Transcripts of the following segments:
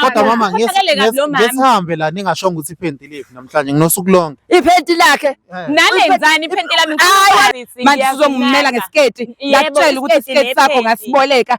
kodwa mama ngesihambe la ningashonga ukuthi iphenti liphi namhlanje nginosuku lonke iphenti lakhe eh. nalenzani iphenti lami manje sizongimela ngesiketi ngakutshela ukuthi isiketi sakho ngasiboleka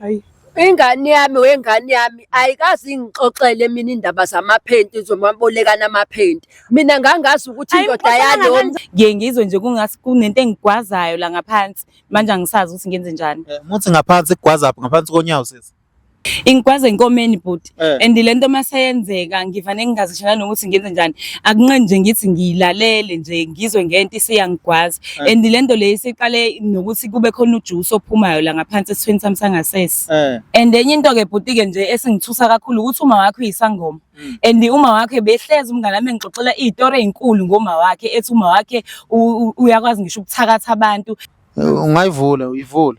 hayi ingane yami wengane yami ayikazi ingixoxele mina indaba zamaphenti zomabolekana amaphenti mina ngangazi ukuthi indoda yalo ngiye ngizwe nje kungathi kunento engigwazayo la ngaphansi manje angisazi ukuthi ngenze njani eh, muthi ngaphansi kugwaza ngaphansi konyawo sisi ingigwaza enkomeni but Eh. and le nto uma seyenzeka ngivane ngingazisho nanokuthi ngenze njani akunqeni nje ngithi ngiyilalele nje ngizwe ngento isiyangigwaza Eh. and le nto le isiqale nokuthi kube khona ujuice ophumayo la ngaphansi esithweni sami sangasese Eh. and enye into-ke bhuti-ke nje esingithusa kakhulu ukuthi uma wakho uyisangoma Mm. and uma wakhe behlezi umngane wami engixoxela iy'tori ey'nkulu ngoma wakhe ethi uma wakhe u- u- uyakwazi ngisho ukuthakatha abantu Ungayivula uyivule.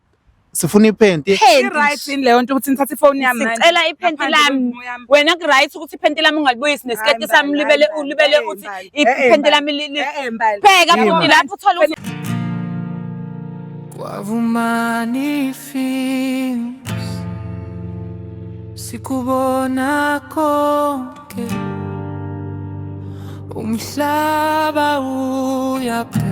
sifuna iphenti Right yini leyo nto ukuthi ngithathe ifoni yami manje? Sicela iphenti Ngaphandle lami. komumo yami. wena kuright ukuthi iphenti lami ungalibuyisi nesiketi Hayi, sami Mbali, ulibele hayi, Mbali. ulibele Eh, uthi Mbali. Eh, eh, iphenti Mbali. lami li- li- Eh, eh, Mbali. bheka Yini? futhi lapho uthola ukuthi Kwavumani films sikubona konke umhlaba uyaphe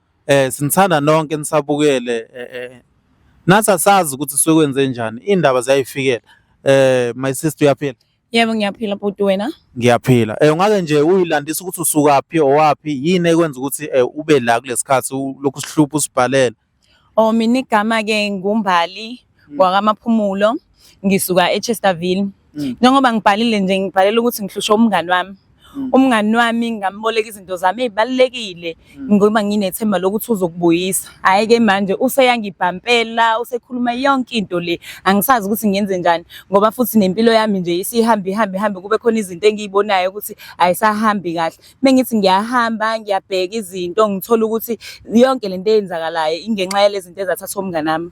Eh sinithanda nonke nisabukele eh, eh nathi asazi ukuthi sekwenze njani indaba ziyayifikela eh my sister uyaphila Yebo ngiyaphila bhuti wena. ngiyaphila eh ungake nje uyilandisa ukuthi usukaphi owaphi yini ekwenza ukuthi eh, ube la kulesikhathi ulokhu usihlupha usibhalela Oh mina igama ke nguMbali mm. kwakamaphumulo ngisuka eChesterville mm. njengoba ngibhalile nje ngibhalela ukuthi ngihlushwe umngani wami mm. umngani wami ngamboleka izinto zami ezibalekile ngoba nginethemba lokuthi uzokubuyisa hayi ke manje useyangibhampela usekhuluma yonke into le angisazi ukuthi ngenze njani ngoba futhi nempilo yami nje isihambi hambi hambi kube khona izinto engiyibonayo ukuthi ayisahambi kahle mengithi ngiyahamba ngiyabheka izinto ngithola ukuthi yonke lento eyenzakalayo ingenxa yalezinto ezathathwa umngani wami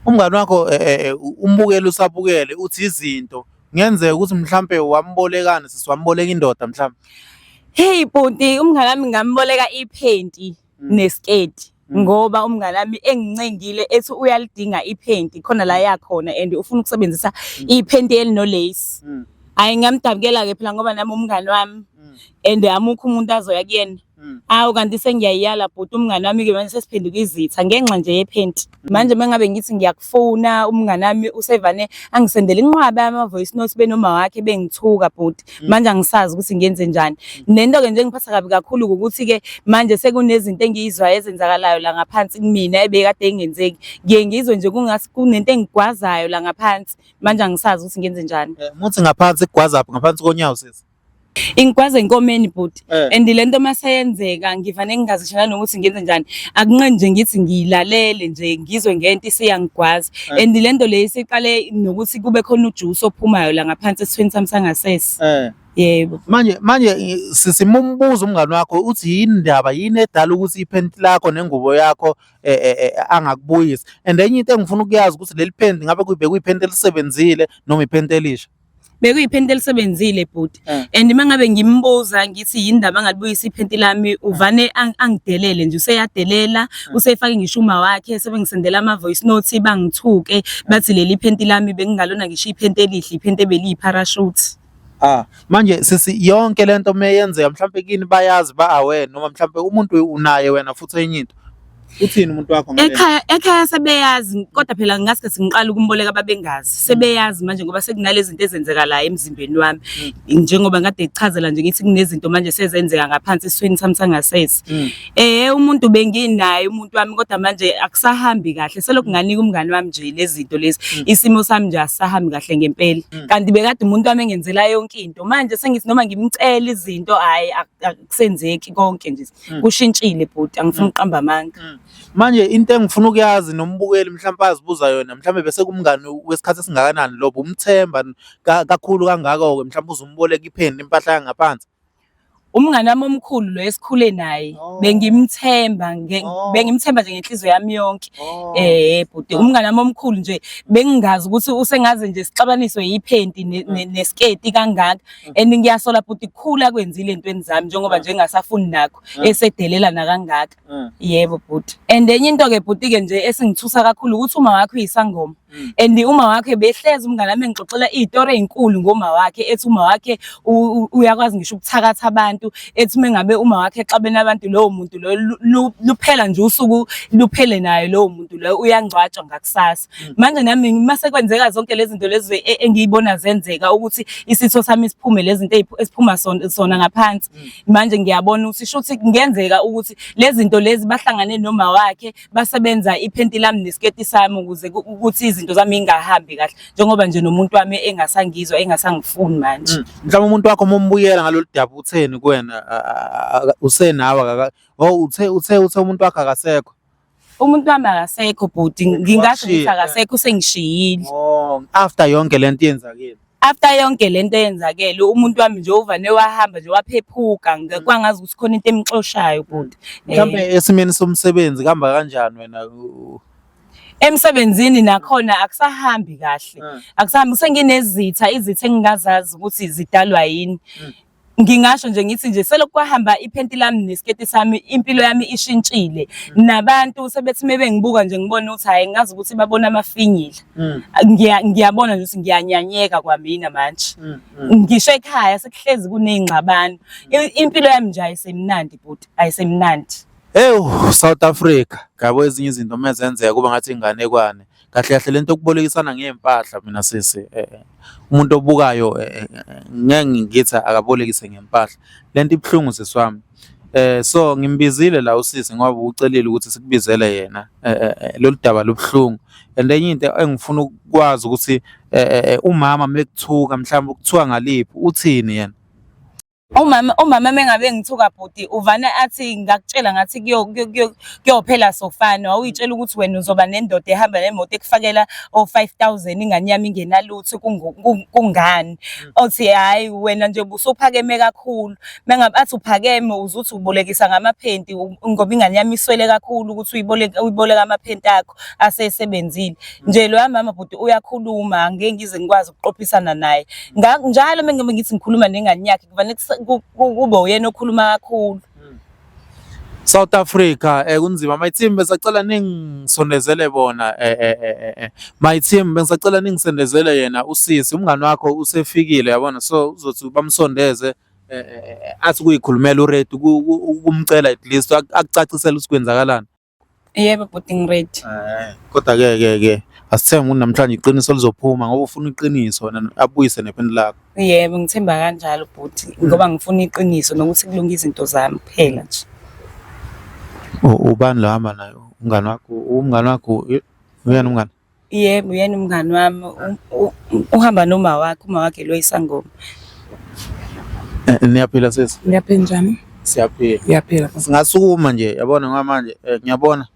Umngani wakho eh, eh, eh, umbukele usabukele uthi izinto kungenzeka ukuthi mhlampe wambolekani sisi wamboleka indoda mhlampe. Hey bhuti umngani wami ngamboleka iphenti mm. nesketi. Mm. ngoba umngane wami engincengile ethi uyalidinga iphenti khona la yakhona and ufuna ukusebenzisa mm. iphenti elinolace mm. hayi ngamdabukela ke phela ngoba nami umngane wami and amukho umuntu azoya kuyena Mm. Awu kanti sengiyayala bhuti umngane wami ke manje sesiphenduka izitha ngenxa nje yephenti. Mm. Manje mengabe ngithi ngiyakufona umngane wami usevane angisendele inqwaba ama voice notes benoma wakhe bengithuka bhuti. Mm. Manje angisazi ukuthi ngenze njani. Nento ke nje ngiphatha kabi kakhulu ukuthi ke manje sekunezinto engiyizwayo ezenzakalayo la ngaphansi kumina ebekade engenzeki. Ngiye ngizwe nje kungathi kunento engigwazayo la ngaphansi. Manje angisazi ukuthi ngenze njani. Eh, muthi ngaphansi kugwaza ngaphansi konyawo sisi. ingigwaze enkomeni bhuti eh. and le nto maseyenzeka ngivane ngingazishela nokuthi ngenze njani akunqeni nje ngithi ngiyilalele nje ngizwe ngento isiyangigwaza eh. and le nto le isiqale nokuthi kube khona ujuice ophumayo la ngaphansi esithweni sami sangasese eh. yebo manje manje sisimumbuza umngane wakho uthi yini ndaba yini edala ukuthi iphenti lakho nengubo yakho e, e, e, angakubuyisi and enye into engifuna ukuyazi ukuthi leli phenti ngabe kuyibhekwe iphenti elisebenzile noma iphenti elisha bekuyiphenti elisebenzile bhuti eh. and uma ngabe ngimbuza ngithi yini ndaba angalibuyisa iphenti lami eh. uvane angidelele nje useyadelela eh. usefake ngisho uma wakhe sebengisendela ama-voice note bangithuke bathi leli phenti lami bengingalona ngisho iphenti elihle iphenti ebeliyiparashute Ah manje sisi yonke lento meyenzeka mhlawumbe kini bayazi ba aware noma mhlawumbe umuntu unaye wena futhi enye into Uthini umuntu wakho ngale? Ekhaya ekhaya sebeyazi kodwa phela ngaske singiqala ukumboleka babengazi. Sebeyazi manje ngoba sekunalezi zinto ezenzeka la emzimbeni wami. Mm. Njengoba ngade ichazela nje ngithi kunezinto manje sezenzeka ngaphansi eswini sami sangasese. Mm. Eh umuntu benginaye umuntu wami kodwa manje akusahambi kahle. Selokhu mm. nganika umngani wami nje lezinto lezi. Isimo sami nje asahambi kahle ngempela. Kanti bekade umuntu wami engenzela yonke into. Manje sengithi noma ngimcela izinto hayi akusenzeki konke nje. Mm. kushintshile bhuti angifuni mm. ukuqamba amanga mm. manje into engifuna ukuyazi nombukeli mhlawumbe azibuza yona mhlawumbe bese kumngani wesikhathi esingakanani lobo umthemba kakhulu kangako-ke mhlawumbe uzumboleka ipheni impahla yangaphansi umngani wami omkhulu lo esikhule naye oh. bengimthemba oh. bengimthemba nje ngenhliziyo yami yonke oh. eh bhuti umngani wami omkhulu nje bengingazi ukuthi usengaze nje sixabaniswe yiphenti nesiketi kangaka Mm. and ngiyasola bhuti khulu akwenzile entweni zami njengoba mm. nje ngingasafuni nakho mm. esedelela nakangaka yebo bhuti and enye into ke bhuti ke nje esingithusa kakhulu ukuthi uma wakho uyisangoma and uma wakhe behlezi umngane wami engixoxela izitori ezinkulu ngoma wakhe ethi uma wakhe uyakwazi ngisho ukuthakatha abantu ethi uma ngabe uma wakhe exabene abantu lowo muntu loyo luphela nje usuku luphele naye lowo muntu loyo uyangcwatshwa ngakusasa Mm. manje nami uma sekwenzeka zonke lezi zinto lezi e, engiyibona zenzeka ukuthi isitho sami siphume lezi zinto esiphuma sona ngaphansi mm. manje ngiyabona ukuthi shuthi kungenzeka ukuthi lezi zinto lezi bahlangane noma wakhe basebenza iphenti lami nesiketi sami ukuze ukuthi izinto zami ingahambi kahle njengoba nje nomuntu wami engasangizwa engasangifuni manje mm. mhlawumbe umuntu wakho mumbuyela ngalolu daba utheni kuwena usenawe oh, uthe uthe uthe umuntu wakhe akasekho umuntu wami akasekho bhuti ngingasho ukuthi akasekho usengishiyile oh after yonke lento yenzakile after yonke lento yenzakele umuntu wami nje uvane wahamba nje waphephuka kwangazi ukuthi khona into emxoshayo bhuti mhlawumbe eh. esimeni somsebenzi kuhamba kanjani wena emsebenzini nakhona akusahambi kahle hmm. akusahambi senginezitha izitha engingazazi ukuthi zidalwa yini hmm. ngingasho nje ngithi nje selokhu kwahamba iphenti lami nesiketi sami impilo yami ishintshile mm. nabantu sebethi mebengibuka nje ngibona ukuthi hayi ngazi ukuthi babona amafinyila mm. ngiyabona nje ukuthi ngiyanyanyeka kwamina manje mm, ngisho ekhaya sekuhlezi kunezingxabano impilo yami nje ayisemnandi bhuti ayisemnandi Ewu South Africa ngabo ezinye izinto mezenzeka kuba ngathi inganekwane kahle kahle lento yokubolekisana ngey'mpahla mina sisi eh, eh, umuntu obukayo eh, ngeke ngithi akabolekise ngempahla lento ibuhlungu sisi wami Eh so ngimbizile la usisi ngoba ucelile ukuthi sikubizele yena eh, eh, eh, lolu daba lubuhlungu and enye into engifuna ukwazi ukuthi umama mekuthuka mhlawumbe ukuthiwa ngaliphi uthini yena Umama umama mengabe ngithuka bhuti uvana athi ngakutshela ngathi kuyophela sofana wawuyitshela ukuthi wena uzoba nendoda ehamba nemoto ekufakela o 5000 ingane yami ingenalutho kungani mm. othi hayi wena nje busuphakeme kakhulu mengabe athi uphakeme uzuthi ubolekisa ngamaphenti ngoba ingane yami iswele kakhulu ukuthi uyiboleka uyiboleka amaphenti akho wakho asesebenzile nje loya mama bhuti uyakhuluma ngeke ngize ngikwazi ukuqophisana naye njalo uma ngibe ngithi ngikhuluma nengane yakhe kufanele kube uyena okhuluma kakhulu hmm. South Africa eh kunzima my team besacela ningisondezele bona eh, eh eh eh eh my team bengisacela ningisondezele yena usisi umngani wakho usefikile yabona so uzothi bamsondeze Eh, eh, eh, athi kuyikhulumela uRed ukumcela at least akucacisela ukuthi kwenzakalani Yebo bhuti ngiready. Eh, kodwa ke ke ke asithenge umuntu namhlanje iqiniso lizophuma ngoba ufuna iqiniso wena abuyise nephini lakho. Yebo ngithemba kanjalo bhuti ngoba ngifuna iqiniso nokuthi kulunge izinto zami kuphela nje. U- Ubani lo hamba naye? Umngani wakho, umngani wakho, i- uyena umngani? Yebo, uyena umngani wami uhamba nomawakhe, umawakhe lo isangoma. Eh, niyaphila sesi? Ngiyaphila njani? Siyaphila. Ngiyaphila. Singasukuma nje yabona ngoba manje eh, ngiyabona.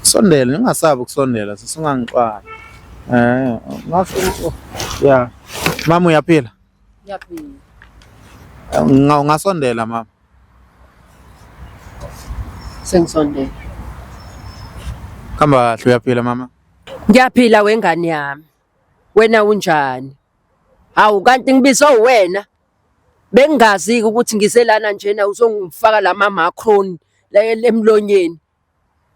Sondela ningasabi ukusondela sisingangixwala. Eh, ngasho oh, yeah. Mama uyaphila? Ngiyaphila. Eh, ngasondela mama. Sengisondele. Hamba kahle uyaphila mama. Ngiyaphila wengane yami. Wena unjani? Hawu kanti ngibizwa uwena. Bengingazi ukuthi ngiselana njena uzongifaka lama macron la emlonyeni.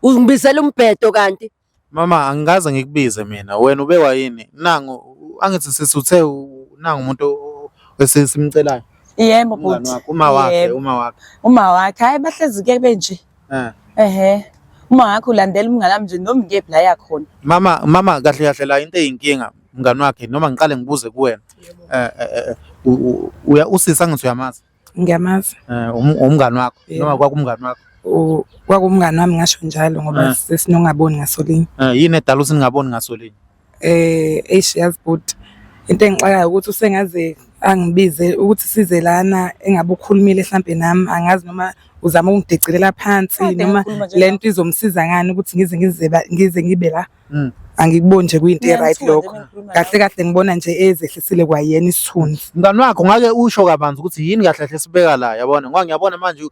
Ungibizela umbhedo kanti Mama angikaze ngikubize mina, wena ubekwa yini? Nangu angithi sisi uthe u- nangu umuntu o- esi- simcelayo. Yebo Umngani bhuti. wakho, uma wakhe, Yebo. uma wakhe. Uma wakhe hayi bahlezi ke benje. Eh. Ehhe. Uma wakhe ulandela umngane wami nje noma ngiyephi la yakhona. Mama mama kahle kahle la into eyinkinga mngani wakhe noma ngiqale ngibuze kuwena. Eh eh, eh, u- u- uya usisi angithi uyamazi. ngiyamazi Eh, um- umngani wakho Yeah. noma kwakumngani wakho U- kwakumngani wami ngasho njalo ngoba Ah. sesinongaboni ngasolinye Eh, yini edala ukuthi ningaboni ngaso linye eh eish yazi bhuti into engixakayo ukuthi usengaze angibize ukuthi size lana engabe ukhulumile mhlampe nami angazi noma uzama ukungidicilela phansi Kade noma ngikhuluma nje lento izomsiza ngani ukuthi ngize ngize ba- ngize ngibe la Mm. angikuboni nje kuyinto e-right lokho kahle kahle ngibona nje ezehlisile kwayena isithunzi mngani wakho ngake usho kabanzi ukuthi yini kahle kahle sibeka la yabona ngoba ngiyabona manje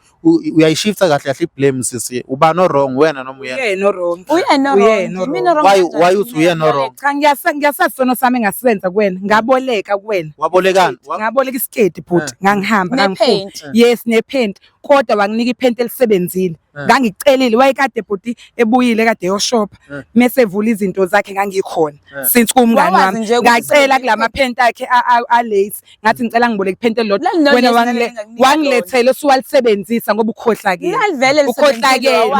uyayishifta kahle kahle i-blame sisi ubani o-wrong wena noma uyena uyena o-wrong uyena o-wrong mina o-wrong why why uthi uyena o-wrong cha ngiyasa ngiyasazi sono sami ngasisenza kuwena ngaboleka kuwena wabolekani ngaboleka isiketi bhuti eh. ngangihamba ngangiphume yes nephenti kodwa wanginika iphenti elisebenzile eh. ngangicelile wayekade bhuti ebuyile kade yoshopha eh. mese evula izinto zakhe ngangikhona eh. since kumngani wami ngacela kulama phenti akhe a lace ngathi ngicela ngiboleke iphenti elilodwa wena wangilethela usuwalisebenzisa ngoba ukhohlakile ukhohlakele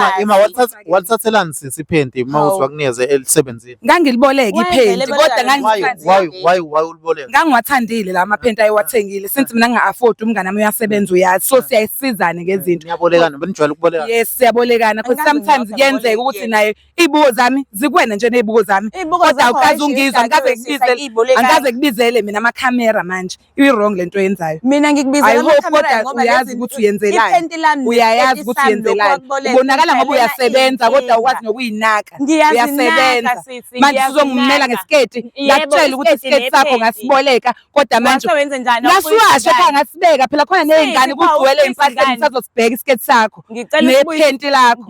walithathelani sisi iphenti uma Hawu. uthi wakunikeze elisebenzile ngangiliboleka Why iphenti vele kodwa baleka why ngangiwathandile. why why why uliboleka ngangiwathandile la maphenti ayewathengile since mina nginga-afford umngane wami uyasebenza uyazi so siyayisizane ngezinto niyabolekana benijwayele ukubolekana yes siyabolekana cause Angazi sometimes ngingaba kuyenzeka boleka ukuthi yena. naye iy'buko zami zikwena nje ney'buko zami Iy'buko kodwa zakho awukaze hayishi ungizwa ngikaze yegazi ngibizele ibolekayo. angikaze kubizele mina amakhamera manje i-wrong le nto yenzayo mina ngikubizela kodwa uyazi ukuthi uyenzelani uyayazi ukuthi uyenzelani ubonakala ngoba uyasebenza kodwa ukwazi nokuyinaka uyasebenza manje sizongimela ngesiketi ngakutshela ukuthi isiketi sakho ngasiboleka kodwa manje ngasiwashe kha ngasibeka phela khona ney'ngane kugcwele impahla ngisazosibheka isiketi sakho nephenti lakho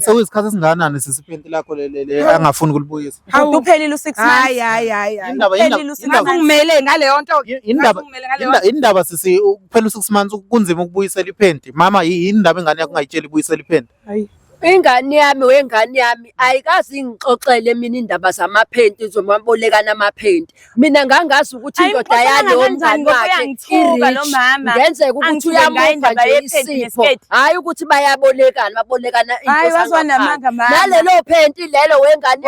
sekuyisikhathi esingakanani sisiphenti lakho leli angafuni ukulibuyisa Hawu uphelile u6 months. Hayi hayi hayi. Indaba ingumele ngaleyo nto. Indaba indaba sisi kuphela u6 months kunzima ukubuyisela iphenti. Mama yini indaba ingane yakho ungayitsheli ibuyisela iphenti. Hayi. Ingane yami wengane yami ayikazi ingixoxele mina indaba zamaphenti zomabolekana amaphenti. mina ngangazi ukuthi indoda yalo mngani wakhe ngenzeka ukuthi uyamupha nje isipho hhayi ukuthi bayabolekana babolekana nalelo phenti lelo wengane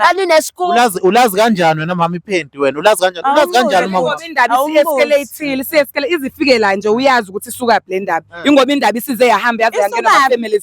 yaminesikuulazi ulazi kanjani wena mama iphenti wena ulazi kanjani ulazi kanjani mama indaba isiescalateile siescalate izifikela nje uyazi ukuthi isukaphi le ndaba ingoba indaba isize yahamba yaze yangena family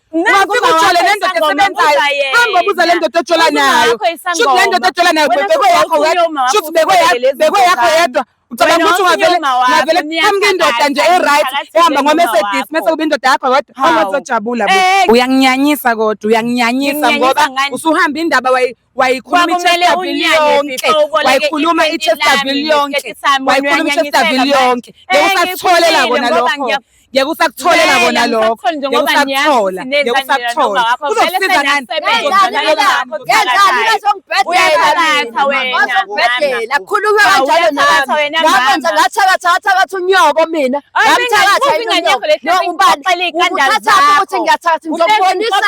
Ungafika le ndoda esebenzayo. Hamba ubuza le ndoda ojola nayo. Shuthi le ndoda ojola nayo bekwe yakho wedwa. Shuthi bekwe yakho bekwe yakho yedwa. Ucabanga ukuthi ungavele ngavele amke indoda nje e-right ehamba ngoMercedes mese kube indoda yakho wedwa. Awuzojabula bo. Eh, eh. Uyanginyanyisa kodwa uyanginyanyisa ngoba usuhamba indaba wayikhuluma i-chesterville yonke wayikhuluma i-chesterville yonke ngekusakutholela kona lokho ngeke usakutholela kona lokho ngeke usakuthola ngeke usakuthola uzosiza ngani khuluma kanjalo nami ngakwenza ngathakatha ngathakatha unyoko mina ngamthakatha ubani ukuthatha ukuthi ngiyathakatha ngizokubonisa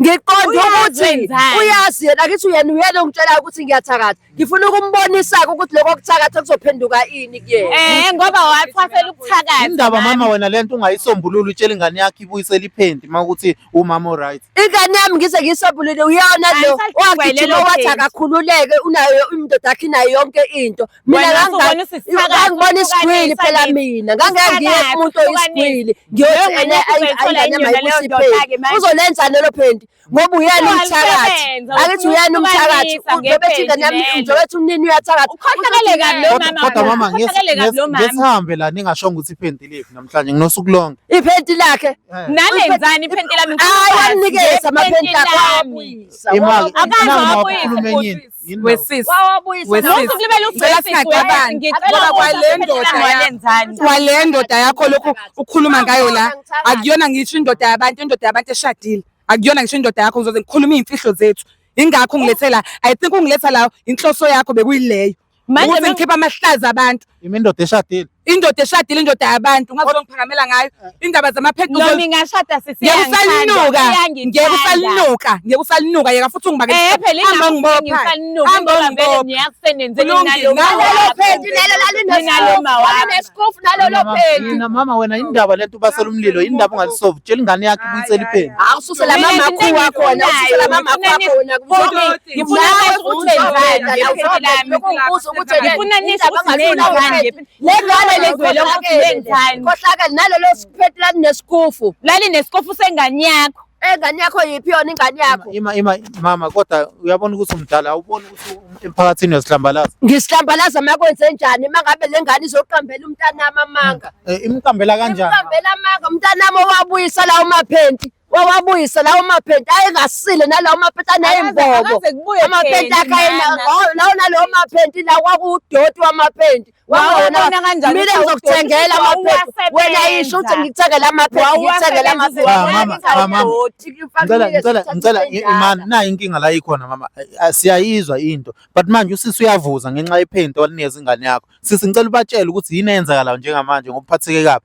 ngiqonde ukuthi uyazi yena kithi uyena uyena ongitshelayo ukuthi ngiyathakatha ngifuna ukumbonisa-ke ukuthi lokho kuthakatha kuzophenduka ini kuyena eh ngoba wathwasela ukuthakatha indaba mama wena le nto ungayisombulula utshela ingane yakho ibuyisele iphenti uma ukuthi umama oright ingane yami ngize ngiyisombulule uyona lo wagijima wathi akakhululeke unayo indoda yakhe inayo yonke into mina ngangibona isigwili phela mina ngangeke ngiye kumuntu oyisigwili ngiyothi ene ayingane mayikusipheki uzolenzani lelo phenti ngoba uyena umthakathi akithi uyena umthakathi ngiyobethi ingane yami ngiyobethi umnini uyathakathi kodwa mama ngesihambe la ningashonga ukuthi iphenti liphi namhlanje nginosuku lonke iphenti lakhe eh. nalenzani iphenti lami ayi wanikeza amaphenti akho imali akazwa abuyi wesisi kwale ndoda yakho lokhu ukhuluma ngayo la akuyona ngisho indoda yabantu indoda yabantu eshadile akuyona ngisho indoda yakho ngizoze ngikhulume iy'mfihlo zethu ingakho ungilethe la i think ungiletha la inhloso yakho bekuyileyo ukuthi ngikhipha amahlazi abantu Yimi indoda eshadile. Indoda eshadile indoda yabantu ungaze ungiphakamela ngayo eh. indaba zamaphethu. Noma ingashada sisi yangithanda. Ngeke usalinuka, ngeke usalinuka yeka futhi ungibake. Eh phela ingaba ngibopha. Hamba ngibopha. Ngiyakusebenzela inalo. Nalo phethu nalo lalo nalo mawa. Nesikofu nalo lo phethu. Mina mama wena indaba lento ubasela umlilo indaba ungalisolve. Tshela ingane yakhe ibuyisele iphethu. Awususela mama wakho wakhona, ususela mama wakho wakhona. ngifuna Nawe futhi ukuthi wenzani wenzani, ngephini awusazi lami. lokhu ngibuza ukuthi wena Ngifuna nisho indaba ukuthi ngazula nenzani wena. ngephini. Lengane Lengane lezwele ukuthi ukhohlakele. nenzani. Khohlakele nalelo siphethu lani nesikufu. Lali nesikofu sengane yakho. Engane yakho yiphi yona ingane yakho? Ima ima mama kodwa uyabona ukuthi umdala awuboni ukuthi um- emphakathini uyasidlambalaza. Ngisihlambalaza makwenze njani mangabe lengane izoqambela umntanami amanga. Eh, Imqambela kanjani? Iqambela amanga umntanami owabuyisa la umaphenti. wawabuyisa lawo maphenti ayengasile nalawo maphenti aneyimbobo amaphenti akhayenalawo nalawo maphenti la kwakuwudoti wamaphenti mina ngizokuthengela amaphenti wena yisho ukuthi ngikuthengela amaphenti ngikuthengela amaphentngicela imani nayo inkinga la ikhona mama siyayizwa into but manje usisi uyavuza ngenxa yephenti walinikeza ingane yakho sisi ngicela ubatshele ukuthi yini eyenzakalayo njengamanje ngokuphatheke kabi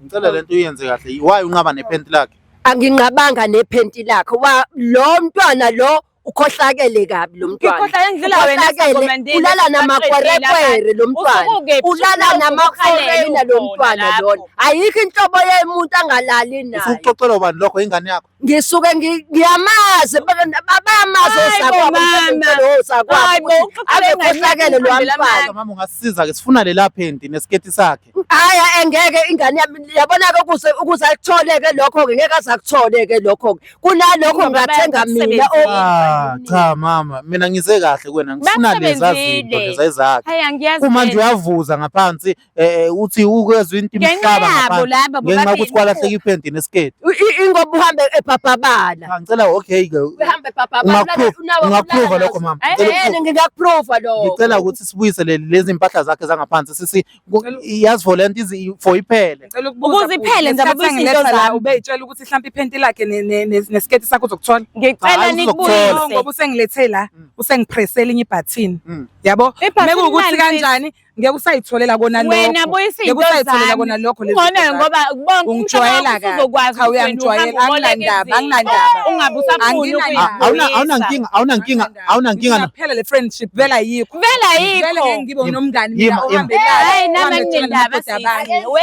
Ngicela lento uyenze kahle. Why unqaba nephenti lakhe? Anginqabanga nephenti lakhe. Wa lo mntwana lo ukhohlakele kabi lo mntwana. Ngikhohlakele ngidlula wena Ukhohlakele, Ulala namakwerekwere lo mntwana. Ulala namakwerekwere lo mntwana lona. Ayikho inhlobo yomuntu angalali nayo. Usuxoxelwa ubani lokho ingane yakho? ngisuke ngiyamazi babamazi osakwabo akekhohlakele lo mfana mama ungasiza ke sifuna lela phenti nesiketi sakhe haya engeke ingane yami yabona ke ukuze ukuze akuthole ke lokho ke ngeke azakuthole ke lokho ke kunalokho ngathenga mina o ah, cha mama mina ngize kahle kuwena ngifuna leza zinto leza izakhe uma nje uyavuza ngaphansi eh uthi ukwezwa into Ngenxa imhlaba yabo ngaphandle laba ngenxa yokuthi bobabili. kwalahleka iphenti nesiketi I- i- Ingoba uhambe ebhabhabala. Cha, ngicela okay ke Uhambe ebhabhabala. Ungakuprove- unawo- ungakuprova unawo- lokho, mama. Eh, Ngicela eh, ukuprova. ngingakuprova lokho. ngicela ukuthi sibuyise le- lezi mpahla zakhe zangaphansi sisi ku- yazi for lento izi- for iphele Ngicela ukubuza Ukuze kuwe, iphele, ngesikhathi ngizababuyisa angiletha into la, zami. Ubeyitshela ukuthi hlampe iphenti lakhe ne- ne- ne- nesiketi sakho uzokuthola. Ngicela Hayi, No, uzokuthola. ngoba nikubuyise. usengilethe la, Mm. usengipresse elinye ibhathini. Mm. Yabo? Ibhathini Mekuwukuthi lani, sis? kanjani ngeke usayitholela kona lokho wena buyisa into usayitholela kona lokho lezi ngone ngoba bonke ungijwayela ka uzokwazi cha uyangijwayela anginandaba anginandaba ungabe usafuni awuna awuna nkinga awuna nkinga awuna nkinga phela le friendship vela yikho vela yikho vela ngeke ngibe nomngani mina ohambelayo hey nami nginendaba sisi we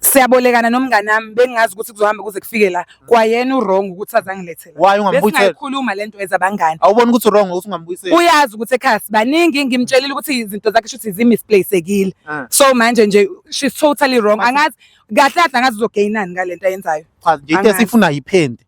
siyabolekana nomngane wami bengazi ukuthi kuzohamba kuze kufike la kwayena uwrong ukuthi azangilethela Why ungambuyisela? besingayikhuluma le nto as abangani Awuboni ukuthi wrong ukuthi ungambuyiseli. uyazi ukuthi ekhaya sibaningi ngimtshelile ukuthi izinto zakhe shuthi zimisplayisekile Ah. so manje nje she's totally wrong angazi kahle kahle angazi uzogainani ngale nto ayenzayo Cha nje into Angazi. esifuna yiphende.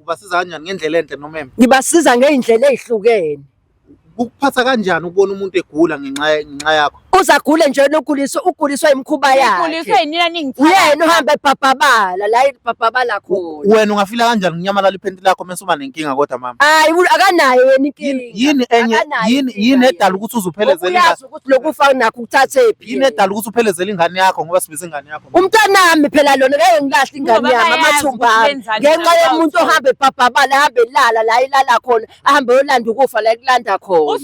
ubasiza kanjani ngendlela enhle noma embi ngibasiza ngey'ndlela ey'hlukene kukuphatha kanjani ukubona umuntu egula ngenxa ngenxa yakho uzagule nje noguliswa uguliswa imikhuba Ngikhuliswe yakhe yinina ningithatha. uyena uhamba ebhabhabala la ibhabhabala khona wena ungafila kanjani kunyamalala iphenti lakho mese uba nenkinga kodwa mama hayi u- akanayo yena inkinga yini enye Akanayo yini inkinga yini edala yena. ukuthi uzuphelezele Uyazi ukuthi lokufa nakho ukuthathephi yini edala ukuthi uphelezele ingane yakho ngoba sibiza ingane yakho umntanami phela lona ngeke ngilahle ingane yami amathumba ngenxa yomuntu ohambe ebhabhabala ahambe elala la ilala khona ahambe yolanda ukufa la ekulanda khona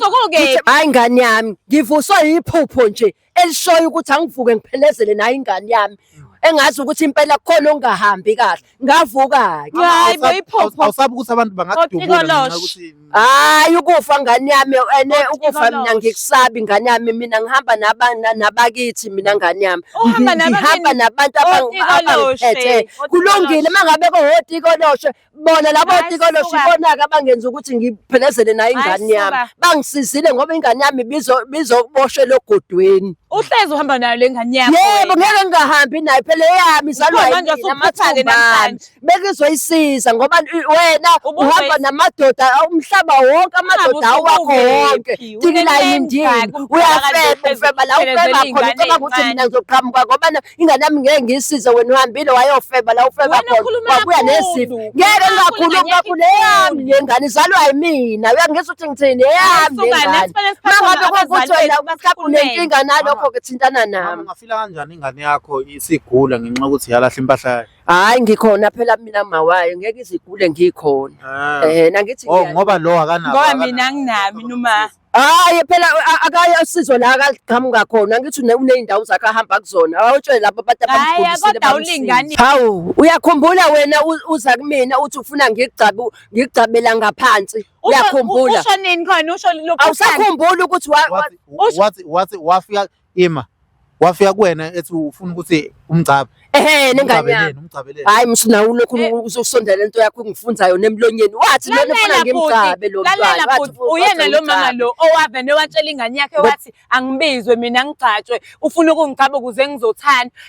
hayi ingane yami ngivuswa yiphupho nje elishoyo ukuthi angivuke ngiphelezele nayo ingane yami engazi ukuthi impela kukhona ongahambi kahle ngavuka-ke Hayi bo iphopho. awusabi ukuthi abantu bangakudubula ngenxa Otikoloshe. yokuthi hayi ukufa ngane yami ene Kodwa ukufa mina ikoloshe. ngikusabi ngane yami mina ngihamba naba- na- nabakithi mina ngane yami Uhamba Ngi- ngihamba nabantu abang- Otikoloshe. abangiphethe kulungile Otikoloshe. uma ngabe kohotikoloshe bona labo Hayi, tikolo suka. shibonaka abangenza ukuthi ngiphelezele nayo Hayi, ingane yami suka. bangisizile ngoba ingane yami bizo- bizoboshelwa ogodweni uhlezi uhamba nayo le ngane yakho yebo wena. ngeke ngingahambi nayo phela eyami izalwa Ubona manje yimina, usuphathane amathumba ami. namhlanje. bekizoyisiza ngoba i- wena Ubuzwe- uhamba namadoda umhlaba wonke amadoda Ungabe awakho usubukephi, wonke unelenza tikilayindini kumfaka nje uyafeba uhlezi ufeba la uphelezela ufeba khona iy'ngane ucabanga ukuthi mina ey'ncane. ngizoqhamuka ngoba na- ingane yami ngeke ngiyisize wena uhambile wayofeba la ufeba Wena khona ukhuluma wabuya kakhulu. nezifo ngeke Ukhuluma ngingakhulumi kakhulu, kakhulu ngeke eyami le ngane izalwa yimina uyangizwa ukuthi ngithini eyami le Ayisuka, ngane nesifanele siphathwe mangabe abazali kwakuthi wena bethu, mhlawumbe basikhulele. unenkinga nalokho ke thintana Mama, nami ungafila kanjani ingane yakho isigula ngenxa yokuthi yalahla impahla yayo hayi ngikhona phela mina mawayo ngeke izigule ngikhona Ah. eh nangithi Oh, ngiya- ngoba lo akanawo ngoba akanawo. mina nginami noma Hayi phela akaye asizo la akaqhamuka khona ngithi uneyindawo zakhe ahamba kuzona awutshele labo abantu abamgulisile kodwa ulingani hawu uyakhumbula wena uza kumina uthi ufuna ngigcabu ngigcabela ngaphansi uyakhumbula usho nini khona usho lokho awusakhumbula ukuthi wathi wathi wafika ima wafika kuwena ethi ufuna ukuthi umgcabe ehe nengane yami umgcabeleni hayi msho nawe ulokhu eh. usondela lento yakho ungifunza yona emlonyeni wathi lona ufuna ngimgcabe lo mntwana wathi uyena lo mama lo owavene watshela ingane yakhe wathi angibizwe mina ngigcatshwe ufuna ukungigcaba ukuze ngizothanda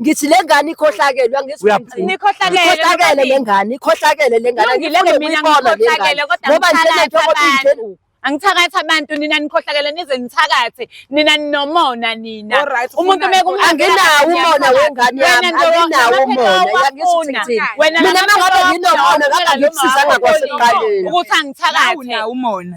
ngithi le ngane ikhohlakele uyangizikhohlakele le ngane ikhohlakele le ngane angilenge mina ngikhohlakele kodwa ngoba njengento angithakathi abantu nina nikhohlakele nize nithakathe nina ninomona nina umuntu mekumanginawo umona wengane yami anginawo umona yangisithi mina mangabe nginomona ngabe ngikusiza ngakwasekuqaleni ukuthi angithakathe umona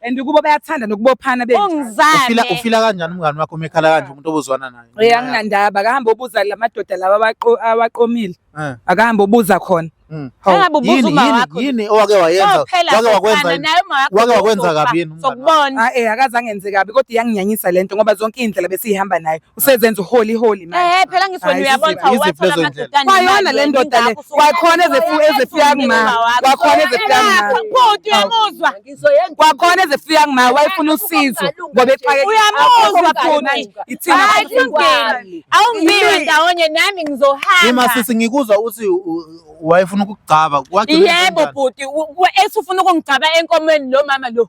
and kubo bayathanda nokubophana benje ungizane Ufila ufila kanjani umngani wakho uma ekhala kanje umuntu obuzwana naye? Eh, anginandaba akahambe obuza la madoda lawa abaqo- awaqomile Eh. akahambe obuza khona Mm. Hawu, Angabe ubuza yini- uma yini- wakho. Yini owake wayenza? Kophela Wake sofana, wakwenza yini? naye uma wakho Wake wakwenza uzofa, kabi yini umngani wakho? sokubona Ah, eh akaze angenze kabi kodwa iyanginyanyisa lento ngoba zonke iy'ndlela besiyihamba nayo usezenza uholi holi manje eh phela ngisona uyabona ukuthi awathola amadodana kwayona le ndoda le kwakhona ezefuya ezefuya kuma kwakhona ezefuya kuma bhuti uyamuzwa kwakhona ezefuya kuma wayefuna usizo ngoba exake uyamuzwa bhuti ithina awungiwe ndawonye nami ngizohamba ima sisi ngikuzwa uthi wayefuna ukugcaba yebo bhuti ethi ufuna ukungigcaba enkomeni lo mama lo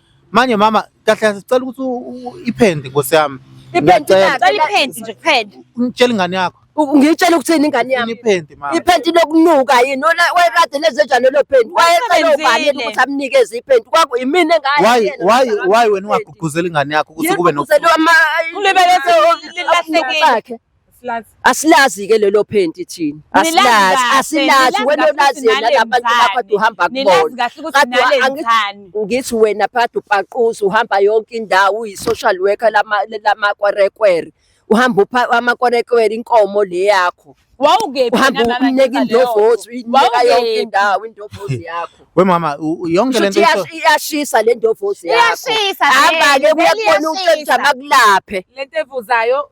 Manje mama kahle kahle sicela ukuthi u- u- iphende nkosi yami. Iphenti Ngiyacela. lakhe. Cela iphenti nje kuphela. Ngitshela ingane yakho. U- Ngiyitshela ukuthini ingane yami. Iphende mama. Iphenti lokunuka yini ola wayekade lezenjani lelo phenti wayecela Usebenzile. ubani yena ukuthi amnikeze iphenti kwaku yimina engane Why yena why ukuthi why wena akamnikeze. ungagqugquzela ingane yakho ukuthi Yena kube no ugqugquzela ama- Ulibele se- lilahlekile. bakhe. Asilazi. Asilazi ke lelo phenti thina. Asilazi, asilazi wena olazi yena labantu bakho ade uhamba kubona. Kade ngithi wena phakathi upaquza uhamba yonke indawo uyi social worker lama lama kwarekwere. Uhamba upha amakwarekwere inkomo le yakho. Wawukephi uhamba umneka indovozi uyinika yonke indawo indovozi yakho. We mama yonke lento iyashisa le ndovozi yakho. Iyashisa. Hamba ke kuyakubona umuntu akulaphe. Lento evuzayo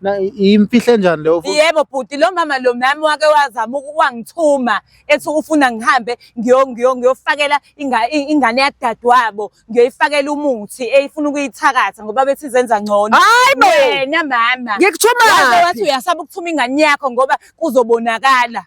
Na- Imfihle njani leyo futhi? yebo bhuti lo mama lo nami wake wazama uku- wangithuma ethi ufuna ngihambe ngiyo- ngiyo- ngiyofakela inga- i- ingane yakudadewabo ngiyoyifakela umuthi eyifuna ukuyithakatha ngoba bethi izenza ngcono Hayi bo! wena mama Ngikuthuma Waze wathi phi? uyasaba ukuthuma ingane yakho ngoba kuzobonakala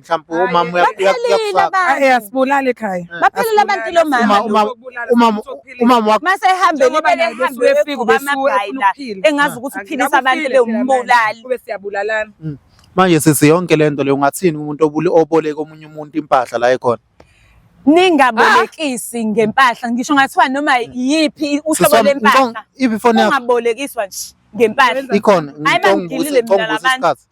mhlawumbe umama uyakufakaasibulali eh, ekhaya eh. baphelile abantu lo mama mase ehambe libele ehambe uyefika ubesuyila engazi ukuthi uphilisa abantu bewumbulali kube siyabulalana mm. manje sisi yonke le nto leyo ungathini umuntu oboleka omunye umuntu impahla la ekhona ningabolekisi ah. ngempahla ngisho ngathiwa noma mm. yiphi uhlobo lempahla ungabolekiswa nje ngempahla ikhona hayi bangilile mina labantu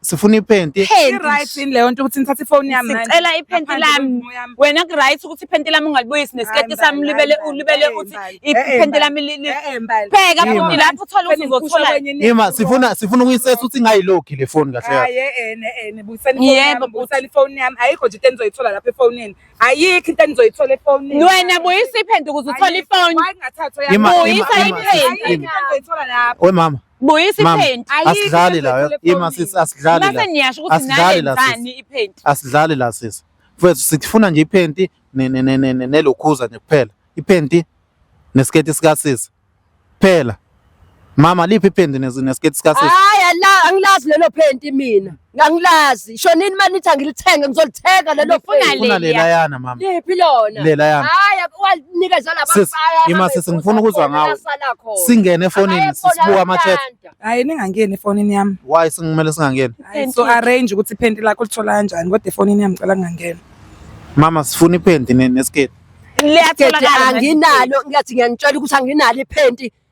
sifuna iphenti Right yini leyo nto ukuthi ngithathe ifoni yami manje? Sicela iphenti Ngaphandle lami. komumo yami. wena kuright ukuthi iphenti lami ungalibuyisi nesiketi Hayi, sami mbali, ulibele hayi, ulibele mbali, uthi hayi, mbali. iphenti Eh, eh, lami li- li- Eh, eh, mbali. pheka Yima. futhi lapho uthole ukuthi Nikusho uzothola kwenye nithi ima sifuna sifuna ukuyisesa ukuthi ingayilokhi le foni kahle kahle Hayi, eh, eh, eh, eh, buyisani ifoni Yebo, yami, buyisani ifoni yami. Ayikho nje into enizoyithola lapha efonini. Ayikho into enizoyithola efonini. wena buyisa iphenti ukuze uthole ifoni Why ngathathwa yami? Ima, ima, Buyisa ima, iphenti. Ayikho into enizoyithola lapha. we mama Buyisa Mama, iphenti. Ayikho asidlali into la ethule ima efonini. sisi asidlali la Mase niyasho ukuthi Asidlali la, nayenzani iphenti. asidlali la sisi mfethu sifuna nje iphenti ne- ne- ne- ne- ne- nelokhuza nje kuphela iphenti nesiketi sikasisi phela mama liphi iphenti nes- nesiketi sikasisi Hayi ala angilazi lelo phenti mina. Ngangilazi. Isho nini uma nithi angilithenge ngizolithenga lelo Ngifuna fake. Ngifuna Leya. lelayana mama. Liphi lona? Lelayana. Hayi wanikeza laba Sis, baya. ima sis, ngifuna ukuzwa ngawe. Singene efonini sisibuka ama chat. Hayi ningangeni efonini yami. Why singimele singangeni? Hayi, So arrange ukuthi iphenti lakho lithola kanjani kodwa efonini yami ngicela ngingangeni. Mama sifuna iphenti ne- nesiketi. Liyatholakala. Anginalo ngathi ngiyanitshela ukuthi anginalo iphenti.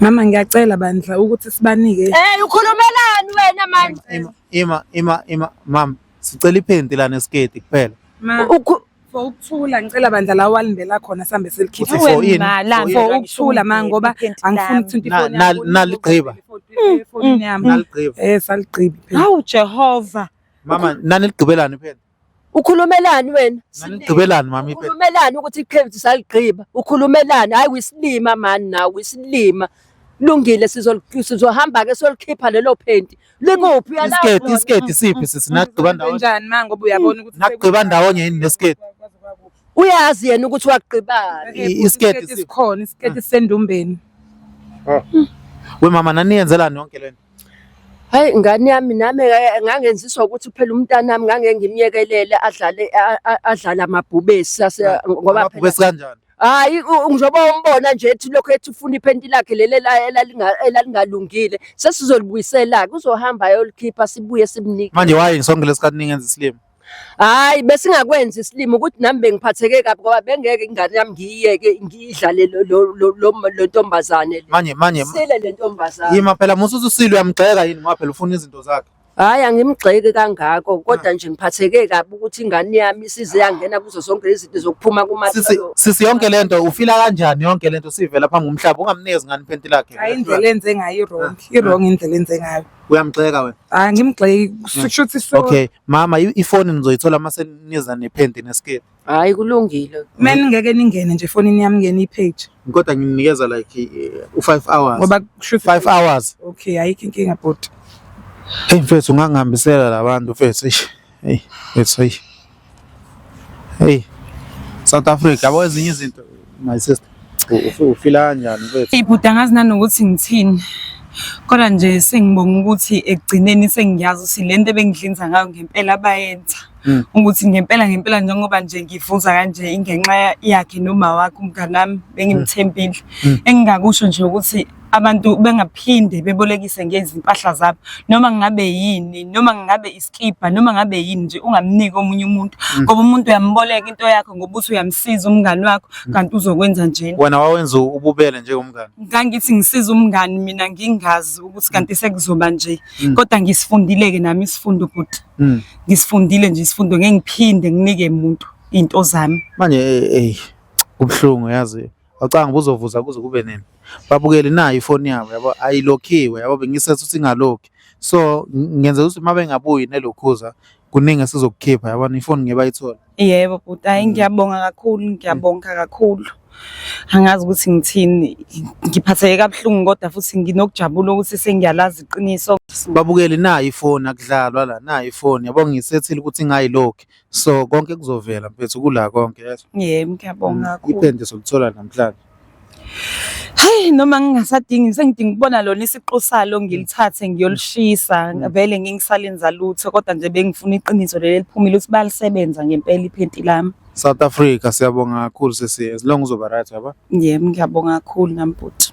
Mama ngiyacela bandla ukuthi sibanike. Hey ukhulumelani wena manje? Ima ima ima ima mama sicela iphenti lana esiketi kuphela. for ukuthula ngicela bandla la walindela khona sambe selikhipha for yini for ukuthula ma ngoba angifuni ukuthi ifoni yami naligqiba ifoni yami naligqiba eh saligqiba hawu jehova mama naniligqibelani phela ukhulumelani wena nganigqibelani mami ukhulumelani ukuthi ikhevithi saligqiba ukhulumelani hayi wisilima mani nawe wisilima lungile sizohamba ke solikhipha lelo phenti likuphi isiketi isiketi siphi sisi nagqiba ndawonye njani manje ngoba uyabona ukuthi nagqiba ndawonye yini nesiketi uyazi yena ukuthi wagqibani isiketi sikhona isiketi sendumbeni we mama naniyenzelani yonke lento Hhayi ngane yami nami ngangenziswa ukuthi phela umntanami ngangeke ngimyekelele adlale adlale amabhubesi ngoba amabhubesi kanjani hayi njengoba umbona nje ethi lokho ethi ufuna iphenti lakhe leli elalingalungile sesizolibuyisela-ke uzohamba ayolikhipha sibuye simnike manje why sonke lesikhathi ningenza isilima Hayi besingakwenzi isilimo ukuthi nami bengiphatheke kabi ngoba bengeke ingane yami ngiyiyeke ngiyidlale lo- lo- lo- lo- lo ntombazane le. manje manje Sile le ntombazane. yima phela musa uthi usile uyamgxeka yini ngoba phela ufuna izinto zakhe Hayi angimgxeki kangako kodwa nje ngiphatheke kabi ukuthi ingane yami isize yangena kuzo zonke lezi zinto zokuphuma sisi kuma sisi yonke lento ufila kanjani yonke lento sivela phambi komhlaba ungamnikezi ngani iphenti lakhe Hayi indlela enze ngayo i-wrong, i-wrong indlela enze ngayo. Uyamgxeka wena? Hayi ngimgxeki kusho ukuthi so. Okay, mama ifoni nizoyithola uma seniza nephenti neskirt. Hayi kulungile. Mina ngeke ningene nje efonini yami ngene ipage. Kodwa nginikeza like eh, u5 hours. Ngoba kusho 5 hours. Okay, ayikho inkinga bhuti. Hey mfethu ungangihambisela labantu mfethu. Hey, it's hey. Hey. South Africa, yabo ezinye izinto my sister. Ufila kanjani mfethu? Ibhuti angazi nanokuthi ngithini. Kodwa nje sengibonga ukuthi ekugcineni sengiyazi ukuthi lento ebengidlinza ngayo ngempela bayenza. Hmm. Ukuthi ngempela ngempela njengoba nje ngifuza kanje ingenxa yakhe noma wakhe umngane wami bengimthembile. Hmm. Engingakusho nje ukuthi abantu bengaphinde bebolekise ngezimpahla zabo noma ngabe yini noma ngabe iskibha noma ngabe yini nje ungamniki omunye umuntu mm. ngoba umuntu uyamboleka into yakho ngoba uthi uyamsiza umngani wakho mm. kanti uzokwenza njena wena wawenza ububele njengomngani ngangithi ngisiza umngani mina ngingazi ukuthi kanti mm. sekuzoba nje kodwa ngisifundile-ke nami isifundo bhuti ngisifundile nje isifundo ngeke ngiphinde nginike muntu into zami manje eyi kubuhlungu yazi Awucanga buzovuza kuze kube nini? Babukeli nayo ifoni yabo yabo ayilokhiwe yabo bengisethu ukuthi ingalokhi. So ngenze ukuthi uma bengabuyi nelokhuza kuningi esizokukhipha yabona ifoni ngeke bayithole. Yebo bhuti, hayi ngiyabonga kakhulu, ngiyabonga kakhulu. Angazi ukuthi ngithini, ngiphatheke kabuhlungu kodwa futhi nginokujabula ukuthi sengiyalazi iqiniso. Babukeli nayo ifoni akudlalwa la nayo ifoni yabo ngisethile ukuthi ingayilokhi. So konke kuzovela mfethu kula konke yezwa. Yebo ngiyabonga kakhulu. Ipende solithola namhlanje. Hey noma ngingasadingi sengidinga ukubona lona isiqu salo ngilithathe ngiyolishisa vele ngingisalenza lutho kodwa nje bengifuna iqiniso leli liphumile ukuthi balisebenza ngempela iphenti lami. South Africa siyabonga kakhulu sisi as long uzoba right yaba. Yebo ngiyabonga kakhulu nami bhuti.